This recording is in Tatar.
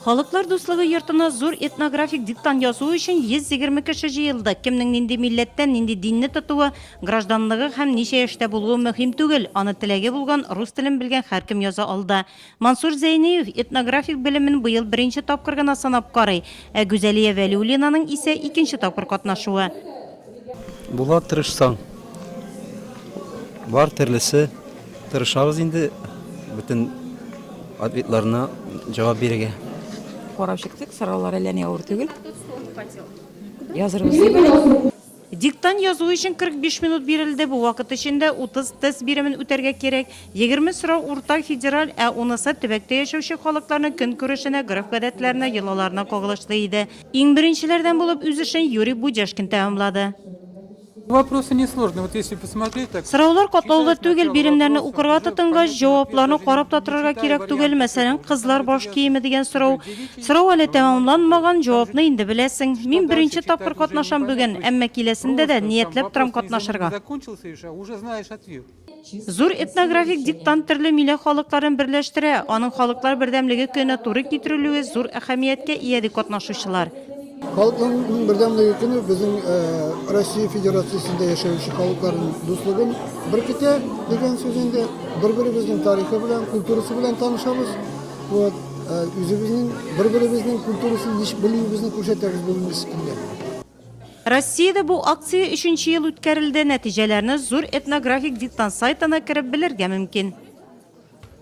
Халыклар дуслыгы йортына зур этнографик диктант язу өчен 120 кеше җыелды. Кемнең нинди милләттән, нинди динне тотуы, гражданлыгы һәм ничә яшьтә булуы мөһим түгел, аны теләге булган, рус телен белгән һәркем яза алды. Мансур Зәйниев этнографик белемен быел беренче тапкыр гына сынап карый, ә Гүзәлия Вәлиуллинаның исә икенче тапкыр катнашуы. Була тырышсаң. Бар төрлесе. Тырышабыз инде бөтен ответларына җавап бирергә. Карап чыктык, сораулар әллә ни авыр түгел. Язырбыз дип. Диктант язу өчен 45 минут бирелде. Бу вакыт эчендә 30 тест биремен үтәргә кирәк. Егерме сорау уртак, федераль, ә унысы төбәктә яшәүче халыкларның көнкүрешенә, гореф-гадәтләренә, йолаларына кагылышлы иде. Иң беренчеләрдән булып үз эшен Юрий Будяшкин тәмамлады. Вопросы несложные. Вот если посмотреть так. Сораулар катлаулы түгел, биремнәрне укырга тотынгач, җавапларны карап та торырга кирәк түгел. Мәсәлән, кызлар баш киеме дигән сорау. Сорау әле тәмамланмаган, җавапны инде беләсең. Мин беренче тапкыр катнашам бүген, әмма киләсендә дә ниятләп торам катнашырга. Зур этнографик диктант төрле милә халыкларын берләштерә, аның халыклар бердәмлеге көненә туры китерелүе зур әһәмияткә ия, ди катнашучылар. Халыклар бердәмлеге көне безнең э, Россия Федерациясендә яшәүче халыкларның дуслыгын беркетә дигән сүз инде. Бер-беребезнең тарихы белән, культурасы белән танышабыз. Вот, э, үзебезнең бер-беребезнең культурасын еш белүебезне күрсәтәбез бу мискиндә. Россиядә бу акция өченче ел үткәрелде, нәтиҗәләрне зур этнографик диктант сайтына кереп белергә мөмкин.